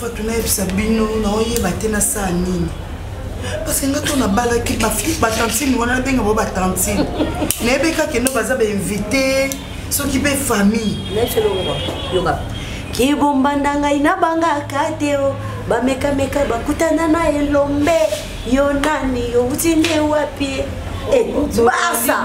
fatu nayebisa bino naoyeba te nasala nini parce nga to nabalaki batantine wana nabenga bo batantine nayebi kaka eno baza bainvite soki mpe famille kibombanda ngai nabangaka te o bamekameka bakutana na elombe yo nani yo uti nde wapi eh, barsa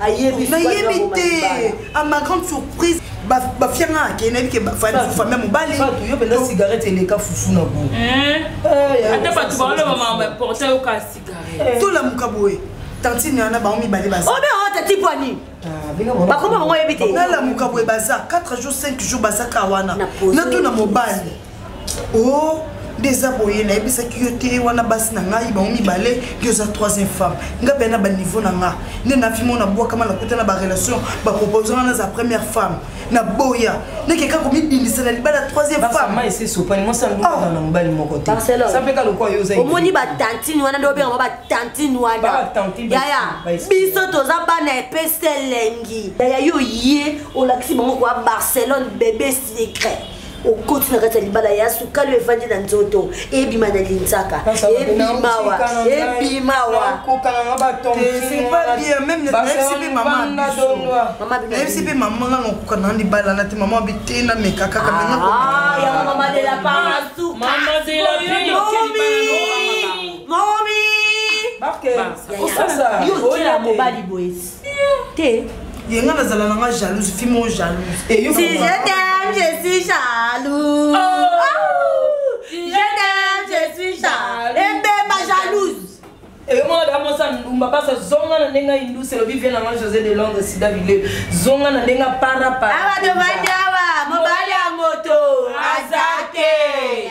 ayebi nayebi te a ma grande surprise bafianga ake nayebi ke famille mobali yo mpenza cigarette eleka fufu na bo eh? eh, ata bato baoloba makambo importa yoka cigarette eh. tolamuka boye tantine wana bango mibale baza obe oh, ota tipo ani ah, bakoma bango yebi te nalamuka boye baza 4 jours 5 jours bazaka wana natuna mobali oh nde eza boye nayebisaki yo te wana basi na ngai bango mibale yo oza troisième femme ngai mpe na baniveau na nga nde nafimo na bwakama nakuta na barelation bapropose nga naza première femme na boya nekeka komibindisa na libala troisième femmeomoni batantine wana nde obengama batantine wana yaya biso toza bana epesa elengi yaya yo ye olakisi bango koya barcelone bebe secret okoti na kati ya libala ya sukali oyo efandi na nzoto ebima na linzaka ebimawa ebimawa nayebisi mpe mama nga nakoka na libala na te mama bite na meka kaka momi osala yo oya mobali boyesi te ye nga nazala nanga jalouse fi mo jalouse eh, si je t'aime je suis jalouse oh. Oh. si je t'aime je suis jalouse ebeba eh, jalouse eyomona eh, damosa ndumba basa zonga na ndenge indus elobi vie nanga josé de londres sida bile zonga na ndenge parapara awa tobandi awa mobali ya moto aza te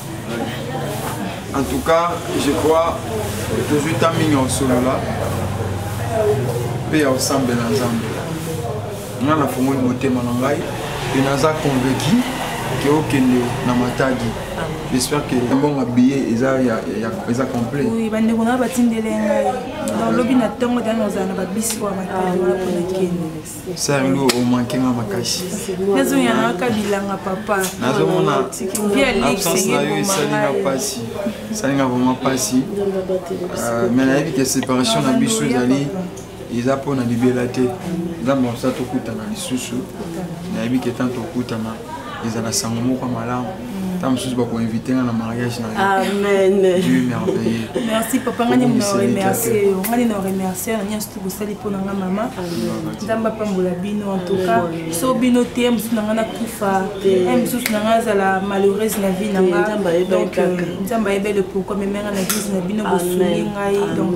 en tout cas je crois tozwi ntan mingi ya kosolola mpe ya kosambela nzambe nga nafongoli motema na ngai mpe naza convaincu ke okende na matadi j'espère que mbongo biye eza complet oui bandeko na batindele ngai donc lobi na ntongo tani ozala na babisi oyo matadi wana mpona kende Salut, au manqué ma makashi. Nazo yana ka bilanga papa. Nazo mona bien lik senga yo salinga pasi. Salinga vraiment pasi. Euh, mais la vie que séparation na biso ezali eza pona libela te. Nzambe akosa tokutana lisusu. Nayebi ke tanto okutana ezala sango moko malamu. ta mosusu bakoinvite nga na mariage na yoamndieu merveilleux merci papa ngani na remercie yo ngani na remercie na nyonso tokosali mpo na nga mama nzambe apambola bino en tout cas so bino te mosusu na nga nakufa e mosusu na nga azala malheureuse na vie na nga donc nzambe ayebele pourquoi meme nga na église na bino bosungi ngai donc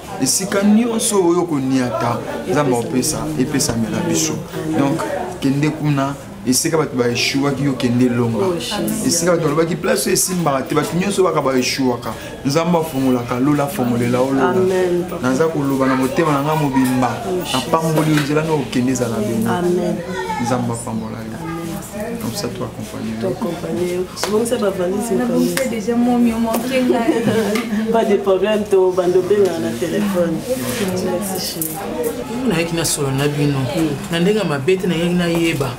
esika nyonso oyo koniata nzambe akopesa epesamela biso donc kende kuna esika bato baeshuwaki yo kende elonga oh, esika bato balobaki place oyo esimbaka te bato nyonso baka baeshuwaka nzambe afungolaka lola afongolela yo lola naza koloba na motema na ngai mobimba oh, napamboli yo nzela na okende ezala bino nzambe apambola yo Comme ça, tu accompagnes. Tu accompagnes. Souvent, ça va valiser. On a bouffé déjà mon mieux, mon Pas de problème, tu vas bender dans le téléphone. Merci, chérie. nayaki nasolo na bino na ndenge ya mabe te nayaki nayeba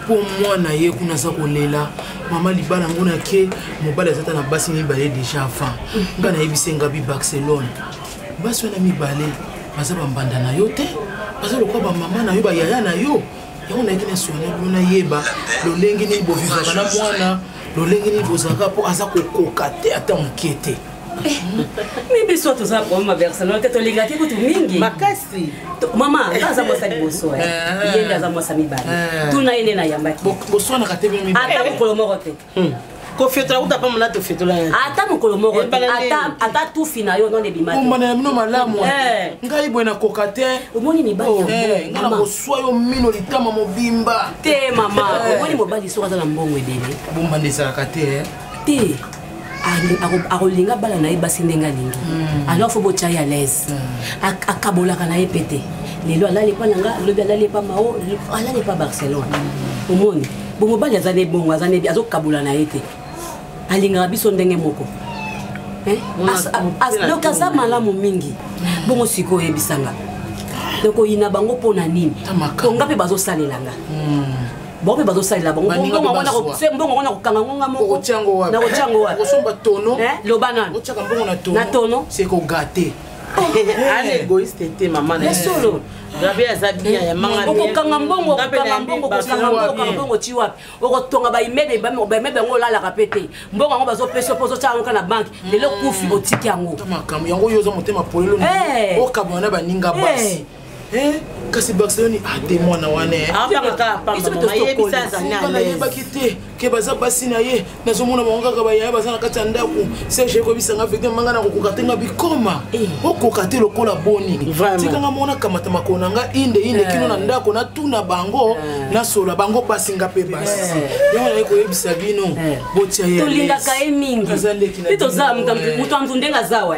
mpo mwana ye kuna aza kolela mama libala yango nake mobali aza ta na basi mibale déjà avant nga nayebisa engabi barcelone basi wana mibale baza bambanda na yo te baza lokola bamama na yo bayaya na yo yango nayaki na solo na bino nayeba lolenge nini bovivaka na mwana lolenge nini bozalaka mpo aza kokoka te ata moke te eh, mi biso toza koma barcelone te tolingaki kutu mingi makasi mama nga aza mwasa liboso eh. eh. ye nde aza mwasa mibale tuna ye nde nayambaki boswanaka te ata mokolo moko te Hmm. kofiotola kuta pa mona tofiotola ata mokolo moko ata tufi na yo none bimaomana ya bino malamu eh. ngai boye nakoka te omoni mibali oh, eh, ngai nakoswa yo mino litama mobimba te mama eh. omoni mobali soki aza na mbongo ebele bomba nde ezalaka te te akolinga bana na ye basi ndenge alingi hmm. alors fo botya ye alaise hmm. akabolaka na ye mpe te lelo alali epa na nga lobi alali epa mao alali epa barcelone hmm. omoni bomobali aza ne bongo aza ne azokabola na ye te alingaka biso ndenge moko eh? donc aza malamu mingi bongo sikoyo oyebisa nga donc oyina bango mpo na nini to nga mpe bazosalela nga hmm. bango mpe bazosalela bangobongo wana kokanga ngonga mokonakotya ngo wapilobana na tono c'est kogate ah, eh, eh, eh. gabe aza bien eh, ya manga okokanga mbongo okokanga mbongo okokanga mbongo okokanga mbongo ti wapi okotonga baimebe baimebe yango olalaka mpe te mbongo yango bazopesa mpo ozotya yango ka na banke mm. lelo kufi otiki yango makambo yango oyo oza motema polelo eh. okabwana na baninga eh. basi kasi barcelone ate ah, mwana wana ah, yebaki te ke baza basi na ye nazomona bango kaka bayaya baza na kati ya ndako serge ekobisa nga vete manga na kokoka te nga bikoma eh. okoka te lokola boni tika nga mona kamata makolo na nga inde inde kino na eh. ndako natuna bango eh. nasola bango basi nga mpe basi yango naye koyebisa bino botia ye tolingaka ye mingi mpe toza moto ya nzundenga azawa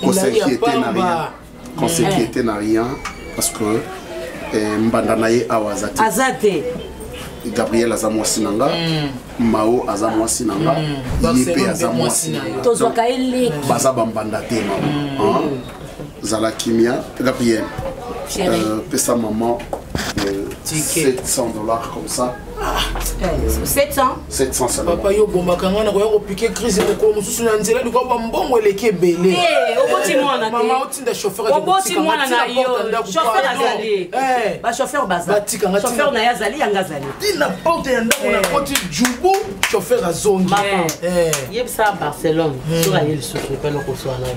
Qu'on s'inquiète na rien. Qu'on s'inquiète na rien parce que eh, mbanda na ye awa aza te. Aza te. gabriel aza mwasi na nga mm. mao aza mwasi na nga mm. ye mpe aza mwasi na yo tozwaka ye leki baza bambanda te mama mm. zala kimia gabriel euh, pesa mama 700 euh, dollars comme ça 700 papa yo obombaka ngai nakoya kopike crise mokolo mosusu na nzela likoa bambongo eleki ebele mama otinda chauffeurbatika naye azali yanga azali ti na porte ya ndako na koti jubu chauffeur azongi yebisa barcelone soki aye lisusu epana koswana yo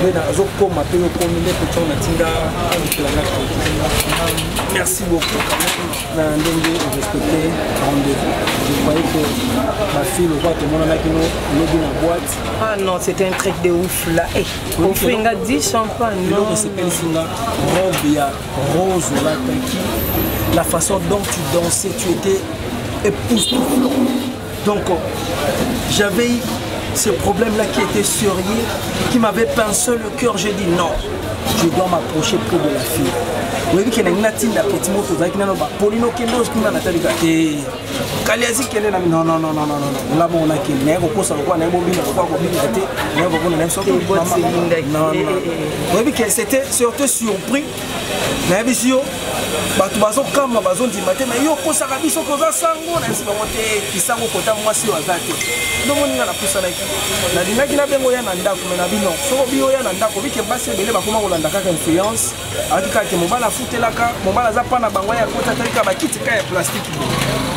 nde nazokoma mpe okomi nde kotyao na ntinda okelanga merci beaucoup na ndenge orespecte rendez-vous je croyais que bafille lokola tomonanaki no lobi na boîte ah non c'était un truc de ouf là eh, ofri nga 10 champagne eloko esepelisi nga robe ya rose olataki la façon dont tu dansais tu étais époustouflant Donc, j'avais ce problème-là qui était sérieux, qui m'avait pincé le cœur. J'ai dit non, je dois m'approcher près de la fille. oyebi kende ngai natinda peti moko tozalaki nano bapoli nokende okima natalika te kali azi kende na nonnnnn nga moko nakende naye kokosa lokola naye bobina lokola kobinga te naye kokona naye soki oyebi ke c'était surtout surpris nayebisi yo bato bazokamba bazondima te me yo okosaka biso koza sango nayebisi bango te kisango kota mwasi oyo aza te ndomoninga napusanaki nalingaki nabengo ya na ndako me na bino soko biyo ya na ndako bike basi ebele bakoma kolanda kaka influence ayaki kaka ke mobali afutelaka mobali aza mpa na bango ya kota atalika bakiti ka ya plastike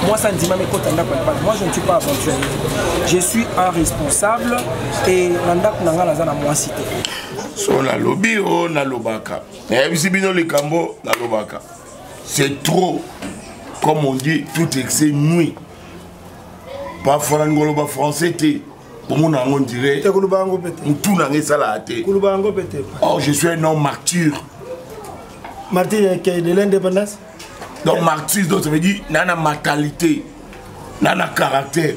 moi ça ndima mekota ndako ya bana moi je ne suis pas aventurier je suis un responsable et na ndako na ngai naza na mwasi te so nalobi o oh, nalobaka nayebisi bino likambo nalobaka c'est trop comme on dit tout excès nuit parfois nalingi koloba français te omona yango ondire mutu na yango esalaka te or oh, je suis un homme martyr martyr ya kei de l'indépendance donc martyr donc ça veut dire nana matalité nana caractère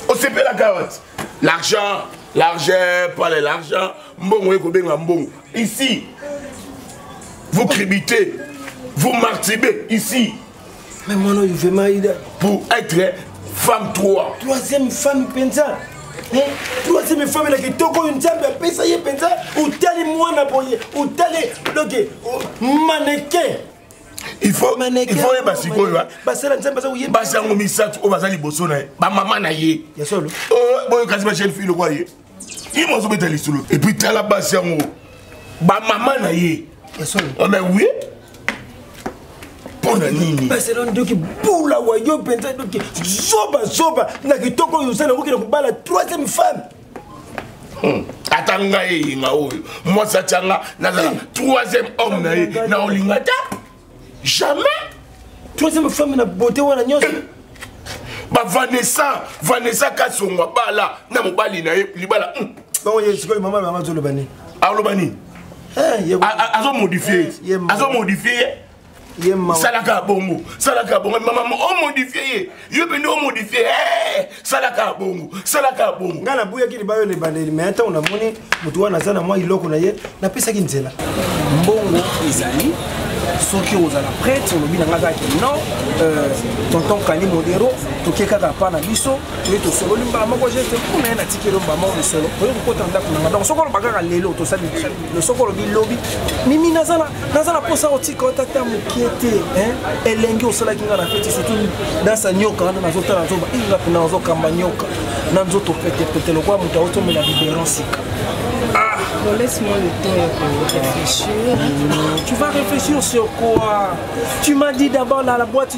osepelaka wati l'argent l'argent pas le l'argent mbongo ye kobenga mbongo ici vous cribitez vous martibez ici mais mwana oyo vraiment ida pour être femme 3 troisième femme mpenza troisième femme elaki kitoko oyo nzambe apesa ye mpenza otali mwana boye otali doke maneke il faut il faut yeba sikoyo hein. basala nzambe aza koyeba basi yango misato oyo baza liboso na ye bamama na ye oh, boyokasi ba jeune fille lokola ye ye mo azobeta lisolo epuis tala basi yango bamama na ye oh, mais oui mpo na nini barcelone doki bula wayo mpenza doki zobazoba na kitoko oyo osala okokenda kobala troisième femme Hmm. ata ngai eyenga oyo mwasi atya nga nazala troisième homme na ye na olinga ta jamais troisième femme na bote wana nyonso bavanessa vanessa kasongo abala na mobali na ye libala hmm. baoye sikoyo mama mama azoloba nini aloba nini eh, azomodifie eh, azomodifie ye salaka bongo salaka bongo mama omodifie ye yo mpenza omodifie eh, salaka bongo salaka bongo ngai nabuyaki libayo na ebandeli mai ntango namoni motu wana aza na mwa eloko na ye napesaki nzela mbongo ezali soki ozala prêtre olobi na ngai kaka ke non euh, tonton kani modero toke kaka pa na biso toye tosololi mbala moko geste kuna ye natikeli mbala moko misolo oye kokota ndako na ngai donc soki oloba kaka lelo tosali no soki olobi lobi mimi naza na mposa otika ota ta mokie te elengi osalaki ngai na feti surtout dansa nyoka wana nazotala nazoba inga mpena nazokamba nyoka na nzoto petepete lokola moto aotomela biberon sika ah! Laisse-moi le temps de réfléchir. Tu vas réfléchir sur quoi Tu m'as dit d'abord dans la boîte,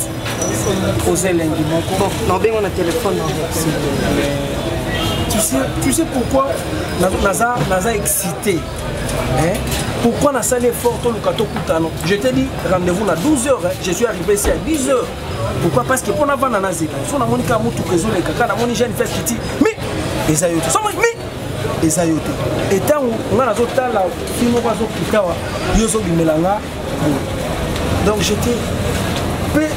oza elengi moko naobenga na telefone tu sais pourquoi naza, naza excité hein? pourquoi nasali effort toluka tokutana je te dis rendez-vous na 12 heures hein? je suis arrivé ici à 10 heures pourquoi parce que mpo navanda nazela so namoni kaka motuka ezoleka kaka namoni jeune fes kiti mi eza yo te so mi eza yo te etango ngai nazotala fi moko azokitawa yo ozobimela ngai donc j'étais mpe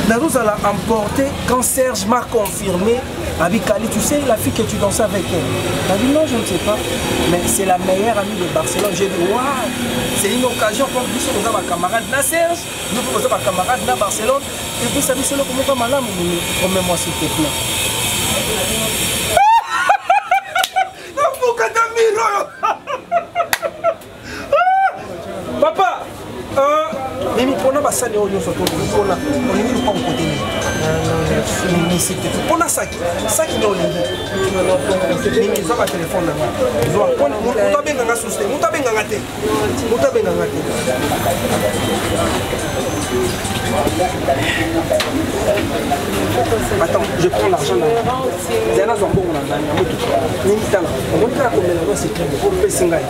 nazozala emporté quand serge m'a confirmé abi kali tu sais la fille que tu danse avec elle abi non je ne sais pas mais c'est la meilleure amie de barcelone j'ai dit wa c'est une occasion comme biso toza bacamarade na serge yo mpe boza bacamarade na barcelone epesa biso eloko moko malamu mini promets moi s'il te plaît papa euh, mimi mpona basani oyo nyonso tolikola olingi lupango kote nini misite mpona saki saki nde olingi mimi zwa batelefone nanga zwa moto abenganga susu te moto abenganga te moto abenganga te Attends, je prends l'argent là. Diana Zambon, on a gagné. Ni mitala. On monte la commune, c'est très beau. On peut s'engager.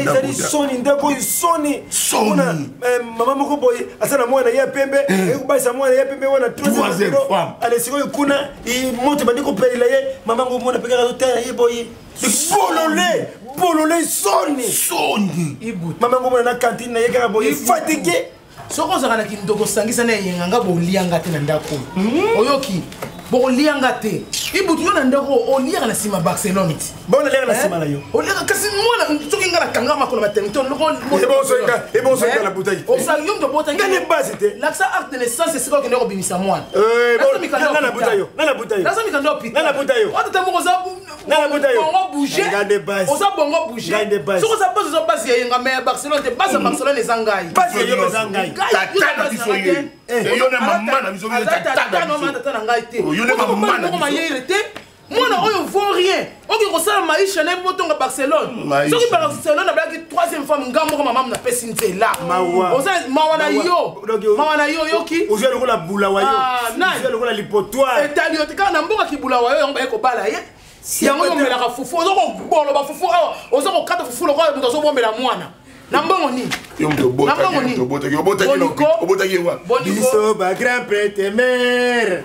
ezali soni ndeko oyo soni mpona eh, mama moko boye aza na mwana ya pembe eh. ekobalisa mwana ya pembe wana ale sikoyo kuna moto ebandi kopelela ye mama ngo mwana mpe kaka azotala ye boye bolole bolole soni soni mama ngo mwana na kantine na ye kaka boye fatigue soki ozalaka na kindoko sangisa na eyenga nga bolia nga te na ndako hmm? oyoki bokolia nga te ibutu yo na ndako oliaka na nsima barcelone ti bonaliaka na eh? nsima na yo oliaka kasi mwana soki nga nakanga makolo maternité olokosala na butaki osala yo mtobotanga ne base te lakisa acte de naissance esika okende kobimisa mwana eh, naza mikanda yo otata moko oza oza bongo bouge soki oza base oza base ya yenga me ya barcelone te base ya barcelone eza ngai tata na ngai te moko mayele te mwana oyo vaut rien okoki kosala maisha na ye motonga barcelone soki barcelone abalaki troisième femme nga moko mamamu napesi nzela oza mawa na yo mawa na yo oyoki ozwa lokola bulawa yo ah, lokola lipotoire etali yo te kaka na mboka kibulawa yo yango baye kobala ye yango yo omelaka fufu oza koboloba fufu awa oza kokata fufu lokola moto azobombela mwana na mbongo nini obotaki ye wa biso ba grand prete mare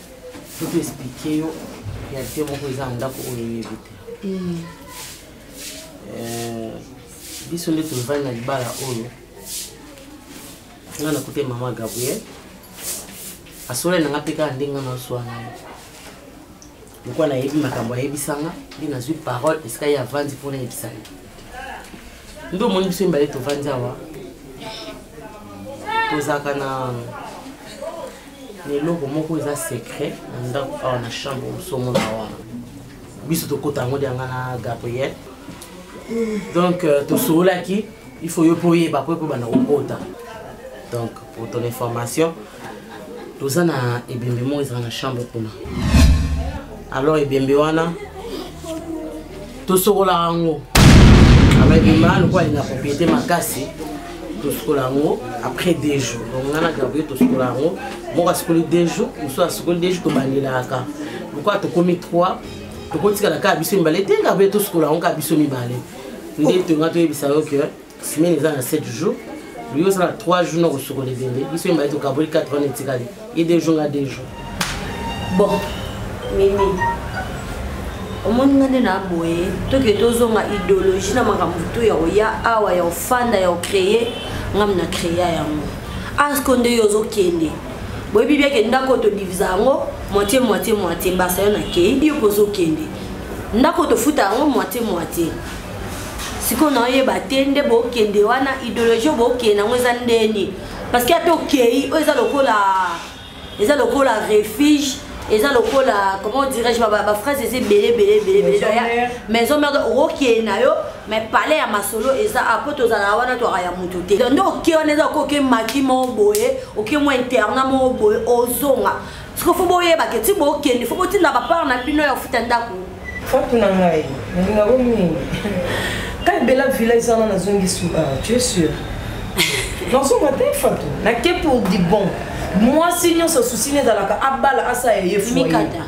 faut expliquer yo réalité moko eza na ndako oyo oyebi te hmm. euh, biso nde tolivandi na libala oyo nga nakute mama gabriel asolani na nga mpe kaka ndenge nga naswana ye lokola nayebi makambo ayebisa nga nde nazwi parole esika ye avandi mpo nayebisa ye nde omoni biso mibale tovandi awa tozalaka na na eloko moko eza secret na ndako awa na chambre mosomona wana biso tokota yango lyanga na gabriel donc euh, tosololaki il faut yo mpo oyeba mpo ekobanda kokota donc pour ton information toza na ebembe moko ezala na chambre kuna alors ebembe wana tosokolaka yango ababima lokola alinga propriété makasi tosukola yango après deux jours donc nga na gabriel tosukola yango moko asukoli deux jours mosusu asukoli deux jours tobandelaka lokola tokomi trois tokotikala kaka biso mibale te gabriel tosukola yango kaka biso mibale nde tonga toyebisa yo ke semaine eza na 7 jours yo oza na 3 jours na kosukola ebembe biso yembaye tokaboli 4 wana etikali ye 2 jours nga 2 jours bon mimi omoni nga nde na boye toke tozonga idéologie na makambo to ya koya awa ya kofanda ya kocreye ngam na créa yango asko nde yo ozokende boyebi biake ndako todivisa yango moitié moitié moitié mbasa yo nakei yo mpe ozokende ndako tofuta yango moitié moitié sikoyo naoyeba te nde bokende wana idéologie bokende yango eza ndeni parce que ata okei oyo eza lokola eza lokola refuge eza lokola comment dirais-je baphrase eza ebele ebele ebele ebele maison merde okokee na yo mais palais ya masolo eza apo tozalaka wana twaka ya motu te nde oke wana eza okoke maki moko boye oke mwa interna moko boye ozonga siko fo boyebake ti bokende fo botinda bapart na bino ya kofuta ndako Fatou na ngai, nalinga ko mingi. Kali bela villa ezana na zongi suba, ah, tu es sûr? Non, son matin Fatou, na ke pour du bon. Moi si nyo sa souci ne dalaka abala asa ye fou. Mikata.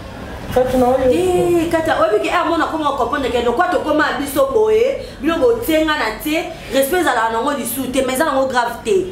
Fatou na oyo. Eh, kata obi ke amona ah, koma comprendre ke lokwa to koma biso boye, bino botenga na te, respect zala na ngo lisu te, mais zala ngo grave te.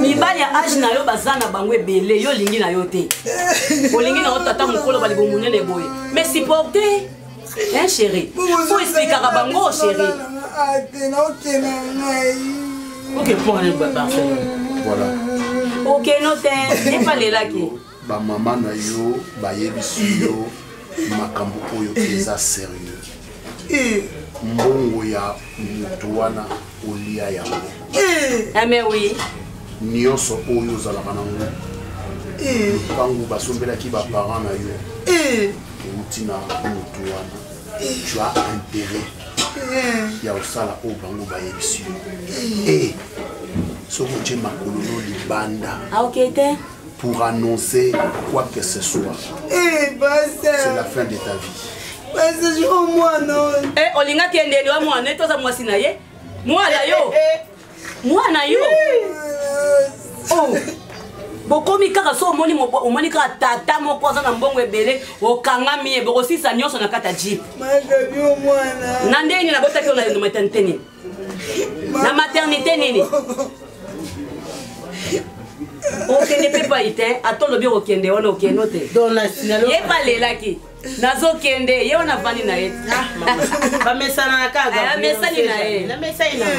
mibali ya age na yo baza na bango ebele yo olingi na yo te olingi na yo tata mokolo balibo monene boye mais supporte hein chéri fo esplikaka bango chéri okepone barcelone okeno te epalelaki Ba maman na yo bayebisi yo makambo oyo eza serieux. Eh. Mbongo ya mutu wana olia yango. Eh. Ah mais oui. Nyonso oyo ozalaka nango. Eh. Bango basombelaki ba parents na yo. Eh. Outi na mutu wana. Eh. Tu as intérêt. Eh. Ya osala oyo bango bayebisi yo. Eh. eh. soki otie makolo no libanda aokei ah, te pour annoncer quoi que ce soit. Eh, bah, c'est la fin de ta vie. Parce yo mwana oyo. Eh, olinga kende liwa mwana, etoza mwasi na ye. Mwana yo. Eh, eh, mwana yo. Oh. bokomi kaka so omoni omoni kaka tata moko aza na mbongo ebele okangami ye bokosisa nyonso na kati ya jip na ndenge nini nabotaki yo na enometanteni na maternité nini okende mpe pai te ata olobi okokende wana okende o te ye mpe alelaki nazokende ye wana afandi na ye ah, bamesana kakayamesani eh, na ye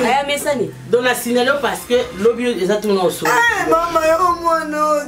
aya eh, mesani don na sinalo parce que lobi eza tuna osomama yo mwana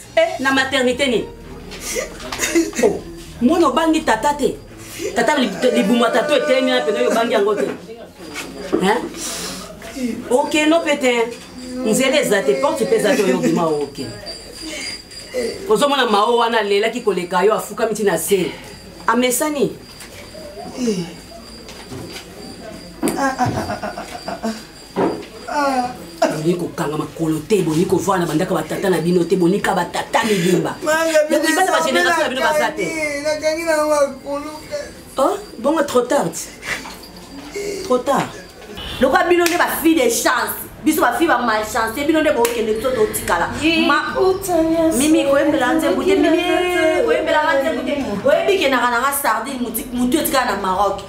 eh, na maternité nini oh, mwana obangi tata te tata libuma tata etelemi na pene oyo obangi yango te oke no mpe te nzela eza te porte mpe eza te oyo obima oke ozomona mao wana alelaki koleka yo afukami ntina se amesani eh. ah, ah, ah, ah, ah, ah. Ah. bolingi kokanga makolo te bolingi kovaa na bandako batata na bino te bonika batata mibimba bana bagénération na bino baza te oh, bongo trop tard trop tard lokola bino nde bafille de chance biso bafille bamalchance bino nde bokende biso totikala mimi koyembela nzembu te mimi koyembelaka nzembu te oyebi kendaka nanga sardine motu etikala na maroc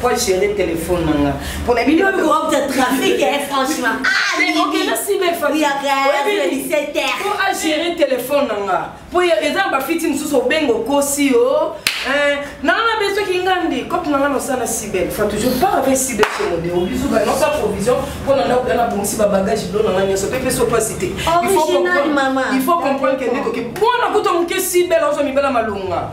po agere telefone na nga mpona biliookota trafic e franchement po agere telefone na nga po eza na bafiti mosusu obenga okosi yo nanga na besoki nga nde cope na nga nosala sibel fa toujours par avec sibel somode obisu ba nosa provision mpo na ndako ya nabongisi babagage bilo na nga nyonso mpe peso mpasi te il faut comprendre ke nde toki mpo na kuta moke sibel ozwa mibala malonga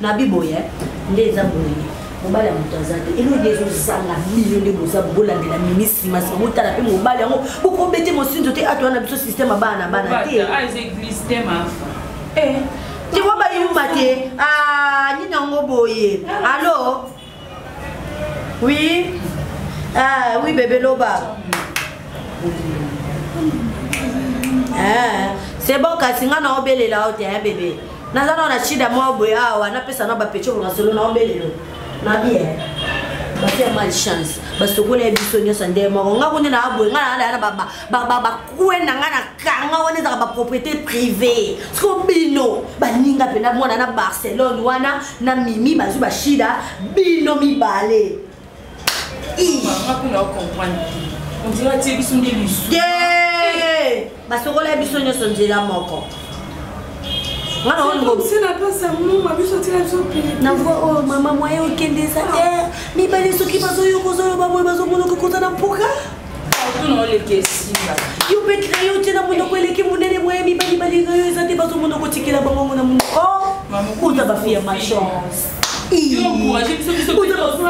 na biboye nde eza boye mobali ya moto aza te eloi nde ezozanga bino nde boza bolandela ministre masi botala mpe mobali yango bokobete mosinzo te ato wana biso systeme abana na bana te tewa bayuma te nini yango boye alo Oui. Ah oui bébé loba. Ah, c'est bon kasi nga na obelela ote hein bébé. Naza na shida mwa boye awa napesa na bapecho kwa solo na obelela. Na bien. batia malchance basokola ye biso nyonso nde moko nga kundi na aboye nga na na bakue na nga na kanga wana ezalaka bapropriété privé siko bino baninga mpena mwana na barcelone wana na mimi bazwi bashida bino mibale basokola biso nyonso nzela moko na voi oyo mama mwaye okende eza te mibale soki bazoyoka ozoloba boye bazomonoka kozala mpoka tuna oleki esimba yo mpe craye otie na monoko eleki monene moye mibali balinga yo eza te bazo monoko otikela bangongo na monoko uta bafi ya machance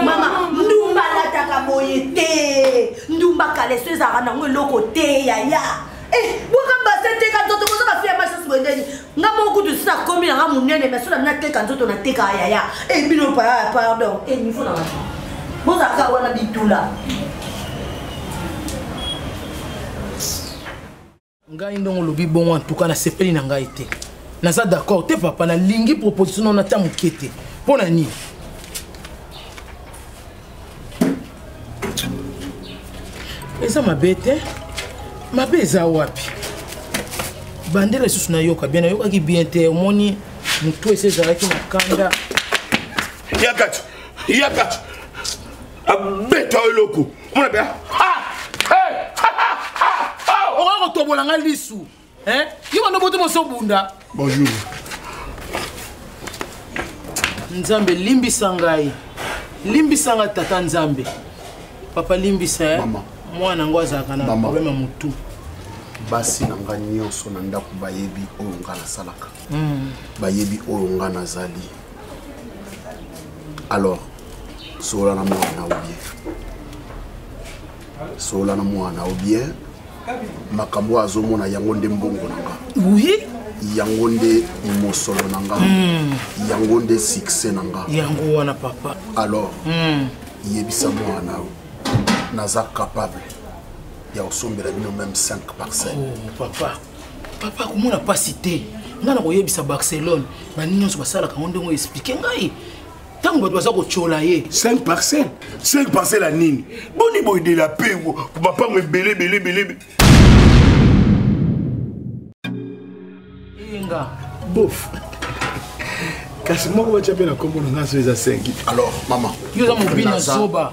mama ndumba alataka boye te ndumba kaleso ezalaka nango eloko te yaya eh, bwaka base te katoto koza bafi ya machance boye ndeni nga moko kutu sina komi na nga monene mais sona nateka nzoto nateka ayaya e eh, bino paa pardon e eh, niveau na bato bozalaka wana bitula ngai ndongo olobi bongo antuka nasepeli na ngai te naza d'accord te papa nalingi proposition nao nata moke te mpo na nini eza mabe te mabe eza wapi bandela lisusu nayoka bien nayokaki bien te omoni motu esi ezalaki na kanda yakati yakati abeta eloko mona bea okoki kotobola ngai lisu Eh, yo bando boto moso bunda. Bonjour. Nzambe limbisa ngai. Limbisa ngai tata Nzambe. Papa limbisa eh. Mama. Mwana ngo azalaka na problème ya mutu. basi na ngai nyonso na ndako bayebi oyo ngai nasalaka hmm. bayebi oyo ngai nazali alors solola na mwana na oye solola na mwana o bien makambo oyo azomona yango nde mbongo na nga oui yango nde mosolo na nga mm. yango nde succès na nga yango wana papa alors mm. yebisa mwana oyo naza capable ya kosombela bino meme 5 parcelle oh, papa papa komona mpasi te ngai na koyebisa barcelone baningi nyonso basalaka yango ndenge oyo explike ngai ntango bato baza kotyola ye 5 parcelle 5 parcelle ya nini boni boye de la paix mapango ebele ebele ebele eyenga bof kasi moko batya mpe na nkombo na ngai so eza 5 alors mama yo oza mobina zoba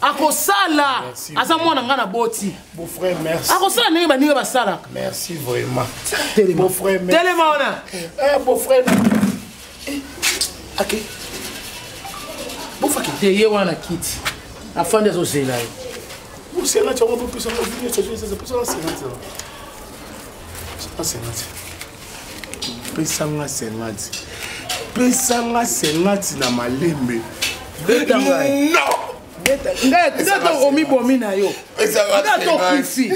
akosala aza mwana ngai naboti akosala ndenge baninga basalaka telema wana bofaki te ye wana kiti afandi azozela ye osela cango bopesa pesa nga 50 pesa nga 50 na malembe beta ngai non ndata omibomi na yo ndata okufi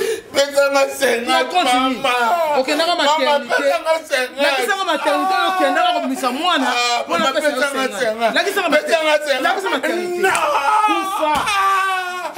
okendaka maternitelakisaka maternite okendaka kobimisa mwana mpona pesalakisaka maternite kufa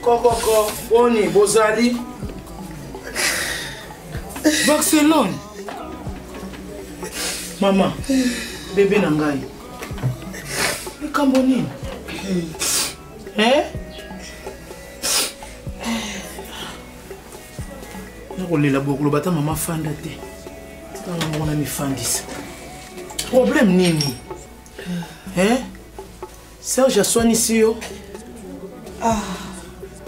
kokoko boni bozali barcelone mama bebe na ngai likambo nini eh? nakolela bokoloba ata mama fanda te tanga moko na mifandisa problème nini eh? serge aswanisi yo ah.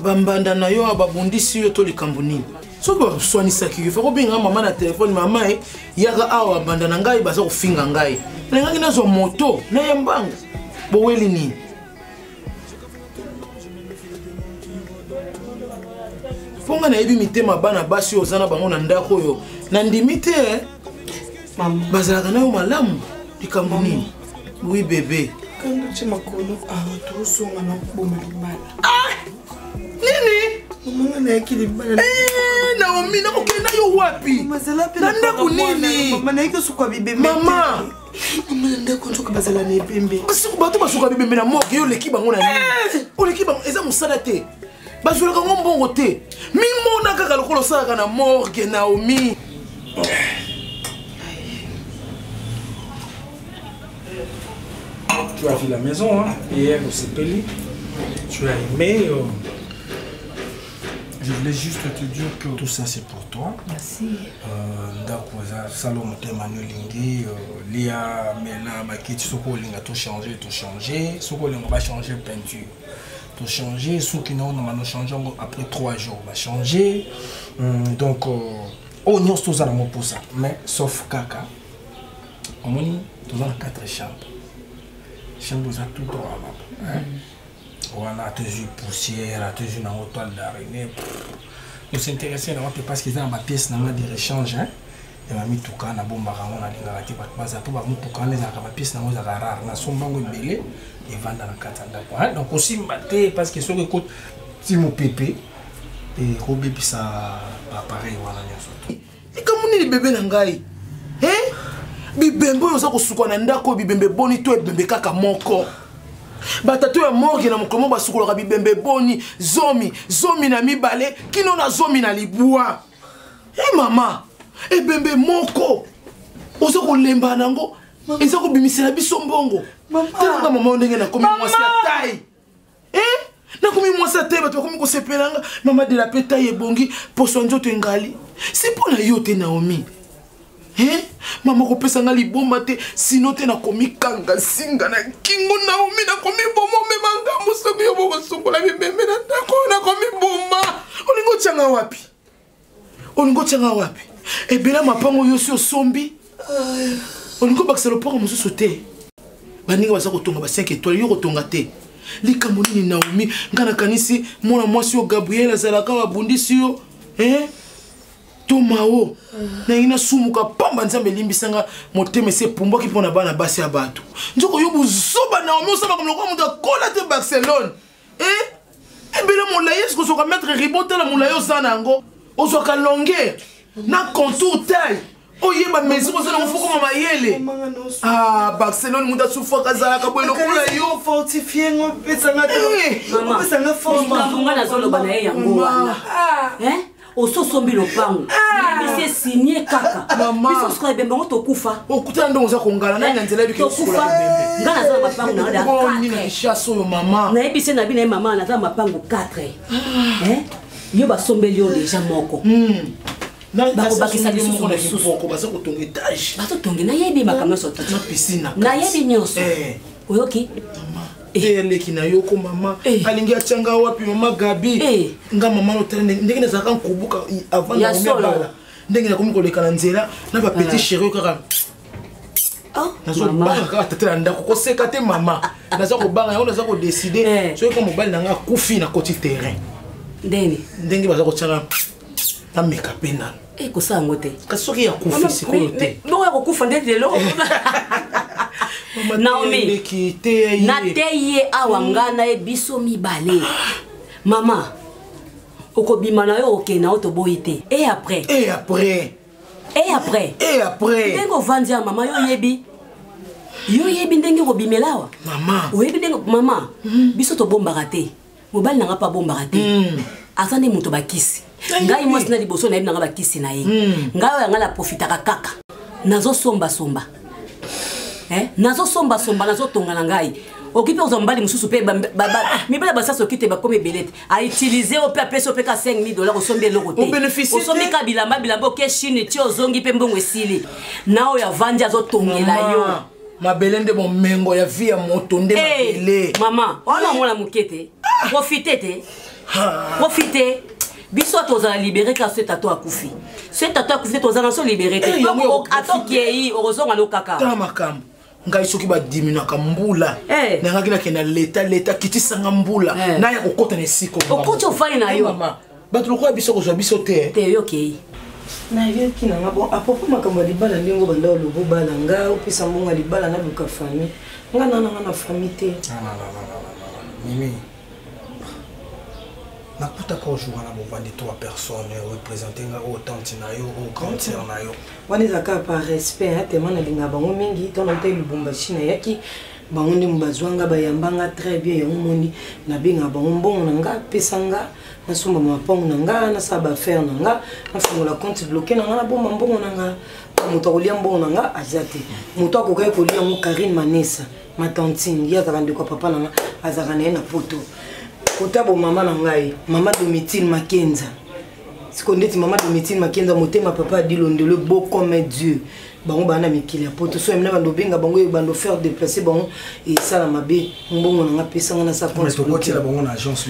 bambanda na yo babundisi yo to likambo nini soki baswanisaki yo fako bengaka mama na telefone mama e yaka awa banda na ngai baza kofinga ngai nalingaki nazwa moto na ya mbangu boweli nini mpo ngai nayebi mitema bana basi oyo oza na bango na ndako oyo nandimi te eh. bazalaka nayo malamu likambo nini Oui, bébé. Kanda tye makolo awa tozonga na koboma libala. Ah! Nini? Omanga nayaki libala. Eh, Naomi, nakokenda yo wapi? Mazala pe na ndako nini? Mama nayaki osuka bibembe. Mama. Mama na ndako nzoka bazala na ebembe. Basuku bato basuka bibembe na moke yo oleki bango na nini? Eh! Oleki bango eza mosala te. bazwelaka ngo mbongo te mimona kaka lokola osalaka na morgue naomi tu as vu la maison hein? hier osepeli tu as aimé euh... Je voulais juste te dire que tout ça c'est pour toi. Merci. Euh, ndako eza sala motema no elingi euh, lia mela bakiti soki olinga tochanger tochanger soki olinga bachange peinture tochange soki naonanga nochange yango après 3 jours bachange hmm, donc oyo euh, oh, nyonso toza nango mposa mais sauf kaka omoni toza na 4 chambre chambre eza tout droit baba wana atozwi poussière atozwi nango toile d'araignée tosintéresse na wapi parce que eza na bapièce na nga de rechange hein? ya bamituka nabombaka yango nalingaka te bato baza mpo bamotuka wana ezalaka bapiese nango ezalaka rare nasomba yango ebele evanda na kati ya ndako donc kosimba te parce que soki ekoti mopepe ekobebisa bapareil wana nyonso te likambo nini bebe na ngai bibembe oyo oza kosuka na ndako oyo bibembe boni to ebembe kaka moko batato ya morge na mokolo moko basukolaka bibembe boni zomi zomi na mibale kino na zomi na libwa e mama ebembe moko oza kolemba nango eza kobimisela biso mbongo talanga mama yo ndenge nakomi mwasi ya tai e eh? nakomi mwasi ya tai bato bakomi kosepela nga mama de la pe tai ebongi poso ya nzoto engali si mpo na yo te naomi Hein? Maman kopesa nga liboma te sino te nakomikanga singa na kingo naomi nakomiboma omema ngambo soki yo bokosukola bibembe na ndako oyo nakomiboma olingi otyanga wapi olingi otyanga wapi ebela mapango yo si osombi olingi obakisa lopango mosusu te baninga baza kotonga ba 5 étoile yo kotonga te likambo nini naomi ngai nakanisi mwana mwasi oyo gabriel azalaka abundisi yo eh? tomao nalingi nasumuka pamba nzambe elimbisa nga motema esi epumbwaki mpo na bana basi ya bato nzoko yo bozoba naomi osambaka lokola moto akola te barcelone e eh? ebele eh, molai esi kozwaka maitre ribo tala molai oza na yango ozwaka longueur na contour taille oyeba mesi kozala kofukama mayele ah, barcelone moto asufaka azalaka boye lokola yo fortifie ngo pesanga eh. nazoloba na ye yango wana ososombi lopango ah! bisi esinie kaka biso sikoyo ebembe yango tokufa okutana ndongo oza kongala nani na nzela ebiketokufa nga naza na mapango na yodachasse oyo mama nayebi se na bino ye mama naza na mapango 4 ah. eh? yo basombeli yo deja moko hmm. bakobakisa lisusu mosusubazotonge nayebi makambo nyonso nayebi nyonso eh. oyoki eya eh. leki na yo ko mama eh. alingi atya nga wapi mama gabi eh. nga mama notala ndenge nazalaka nkobuka avant na komi abala ndenge nakomi koleka na nzela na bapetit cherio kaka ah, nazobanga kaka tata na ndako koseka te mama naza kobanga yango naza kodeside soki ka mobali na nga akufi na koti terrain ndenge baza kotyaka nameka mpe nanu eh, kosala yango te kasi soki ya kufa sikoyo te bongo ya kokufa nde lelo naomi nateyi ye awa mm. ngai na ye biso mibale mama okobima na yo okende na yo toboyi te e après e après e après e après ndenge ovandi ya mama yo oyebi yo oyebi ndenge okobimela awa mama oyebi ndenge mama mm. biso tobombaka te mobali na nga mpe abombaka te hmm. aza nde moto bakisi ngai mwasi na liboso nayebi na nga bakisi na ye hmm. ngai oyo yanga naprofitaka kaka nazosombasomba eh? nazosombasomba nazotonga na ngai oki mpe kozwa mobali mosusu mpe mibali basasi oki te bakomi ebele te autilize yo mpe apesi yo mpe ka 5000 dollars osombi eloko te osombi ka bilamba bilamba oke chine ti ozongi mpe mbongo esili na oyo avandi azotongela yo mabele nde bomengo ya vie ya moto nde eh, mabele mama wana omona moke te ah. profite te ah. profite biso tozala libere kaka so etato akufi so etato akufi te toza na so libere te eh, ata okei okozonga no kaka tala makambo ngai soki badiminaka mbula eh. nayangaki nakenda leta leta kitisanga mbula eh. naya kokota na esika okoti ofai na yo bato lokola biso kozwa biso te te yo okei nayoki nanga bon apropos makambo ya libala ndenge obanda oloba obala nga opesa mbongo ya libala naluka famille nga na nanga na famille te mimi nakutaka ojour wana bovandi trois personnes orepresente nga oyo tante na yo oyo grande sœur na yo wana ezalaka par respect atema nalinga bango mingi ntango ntai lubumbashi nayaki bango nde bazwanga bayambanga très bien yango moni nabenga bango mbongo na nga apesa nga nasomba mapango na nga nasala baaffaire na nga nafungola compte bloke na nga nabomba mbongo na nga moto akolia mbongo na nga aza te moto akokaki kolia yango karine manesa matantine ye azalaka ndeko ya papa na nga azalaka na ye na poto kota bomama na ngai mama domitile makenza sikoyo ndeti mama domitile makenza motema papa adilondele bocome dieu bango baa na mikili ya poto so yamina bando obenga bango ye bando faire déplacer bango esala mabe mbongo na nga pesa nga nasa comptekotela bango na agence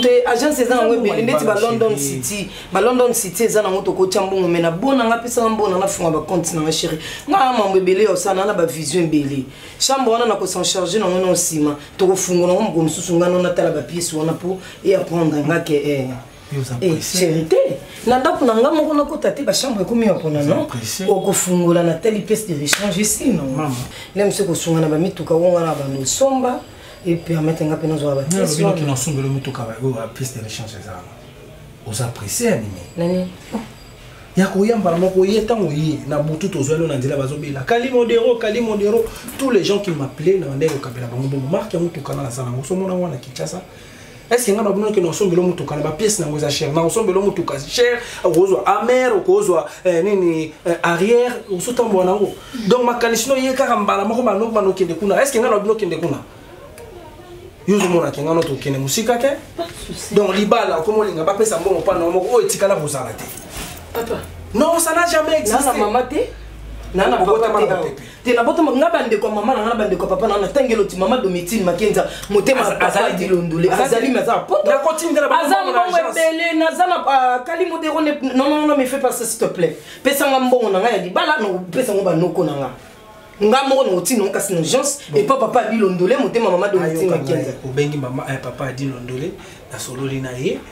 te agence eza nango ebele ndeti ba london city ba london city eza nango tokotya mbongo me na bona nga pesa nga mbona nafunga bacompte na nga chéri nga na mambo ebele ya osana na bavision ebele chambre wana na kosan charge nango na nsima tokofungola ngo moko mosusu nga no natala bapiese wana mpo e apprendre nga ke eh. Eh, chéri te na ndako na ngai moko nakota te bachambre ekomi ya mpona no okofungola na tali pièce de rechange esino nde mosu ekosunga na bamituka onga na bando osomba epermete nga mpe nazwa bapiècenasombela mituka oyo pièce de rechange eza oza presse ya nini ya koya mbala moko ye ntango ye na butu tozwani na nzela bazobela kali modero kali modero tous les gens qui m'appelaient na bandai kokabela bango bongo marke ya motuka nga nasala yango somona yango na kinshasa est-ce que nga ba bonoke no sombelo mutuka na ba pièce na ngoza cher na sombelo mutuka cher okozwa amer okozwa eh, nini eh, arrière osuta mbo na ngo donc makanisi no ye kaka mbala moko ba nokba no kende kuna est-ce que nga ba bonoke kende kuna yo ozomona ke nga no tokende mosika te donc libala okomolinga bapesa mbongo mpa na moko oyo etikala bozala te non ça n'a jamais existé nana mama te nana papa te te nabotama nga bandeko ya mama na nga na bandeko ya papa na nga natangi eloti mama domitine makenza motema ya papa dilondole azali me aza na potoaza mbongo ebele naza na ah, kali modero nonnono me fait pas s'il te plaît pesa nga mbongo na nga ya libala nakopesa ngo banoko na nga nga moko na otino ngo kasi na urgence epa papa adilondole motema mama domitine makenza obengi mama eh, papa adilondole nasololi na ye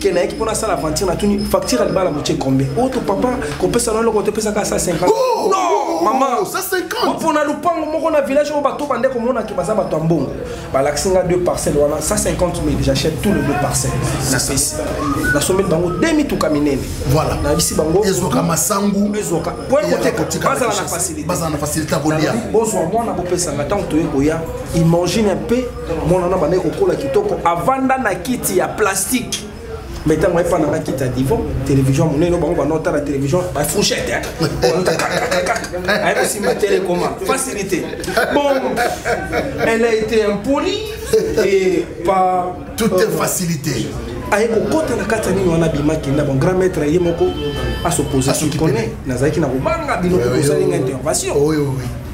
ke nayaki mpo nasala aventure natuni facture ya libala botie combien oyo oh, to papa kopesa na eloko topesaka asa 50 non mama mpo na lopango moko na village oyo bato bande komonaki baza bato ya mbongo balakisi nga deux parcelles wana 150 mille j'achète tout le deux parcelles napesi nasombeli bango de mituka minene voilà nayebisi bango ezwaka masangu ezwaka po ekoteka bazala na facilité bozwa mwana bopesanga ntango toye koya imagine un peu mwana wana bandaki kokola kitoko avanda na kiti ya plastique mais ntango ayepa na ngai kiti ya divan télévision monene bango banda otala télévision bafouchette aye kosimba tele ekoma facilité bon elle a été impolie et pas tout est facilité aye kokota na kati ya nini wana abimaki na bon grand maître ye moko asopose kikone nazalaki na kobanga bino kozali nga intervention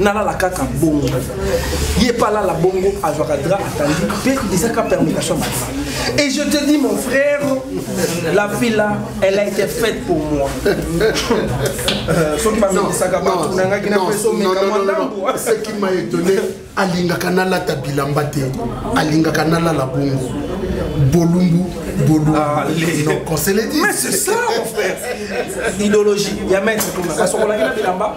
nalala kaka bongo ye mpe alala bongo azwaka dra atandi mpe ezaka permutation ya madra et je te dis mon frère la fille là elle a été faite pour moi euh, soki bamekisaka bato nangaki na peso mekamwa ndambo ce qui m'a étonné alingaka nalata bilamba te alingaka nalala bongo bolumbu bolumbu ah, conseil mais c'est ça mon frère idéologie ya maître tuna asokolaki na bilamba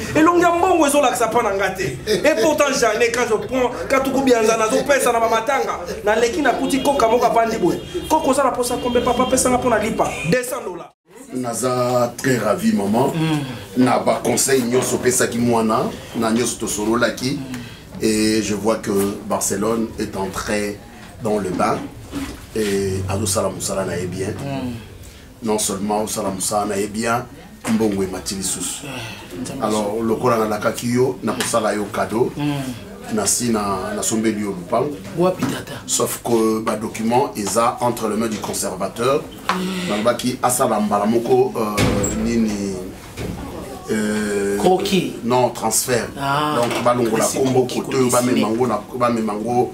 elongi ya mbongo ezolakisa mpo na nga te et pourtant jane quand je prends katuku bianza nazopesa na bamatanga naleki nakuti koka moko avandi boye koko oza na mposa kombe papa pesanga mpo na lipa 200 dola naza très ravi maman mm. na baconseil nyonso opesaki mwana na nyonso tosololaki et je vois que barcelone est entré dans le bain et azosala mosala na ye bien mm. non seulement osala mosala na ye bien mbongo emati lisusu eh, alors lokola nalakaki yo nakosala yo cadeau hmm. nasi nasombeli yo lupango wapi tata sauf que badocument eza entre le main du conservateur hmm. nalobaki asala mbala moko euh, nini euh, croquis non transfert ah, donc balongola kombo kote oyo bamema yango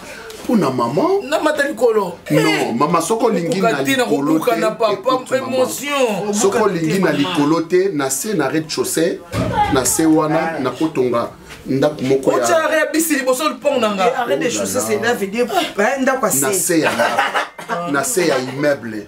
mpo na mama namata likolo non eh, mama soko olingi na likolo soko olingi na likolo te na se na red chaussée na se wana nakotonga ndako moko ya bisi liboso lipongo na nga arrêt de chaussée c'est là veut dire ndako ya se na se ya immeuble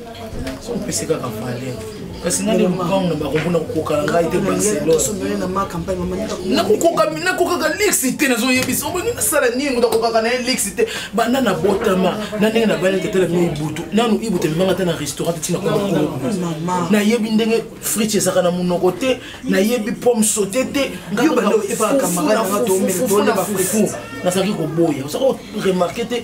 opesi kaka valeur kasi nani lupango na bango mpona kokokana ngai te barcelonenakokaka lixi te nazoyebisa oboningi nasala nini moto akokaka na ye lixi te banda na botama na ndenge na bani tetala bino ibutu nanu ibutu emibanga te na restaurant te tinakonayebi ndenge fritch ezaka na monoko te nayebi pomme saute te ngafufu na fufu nazalaki koboya ozaka remarke te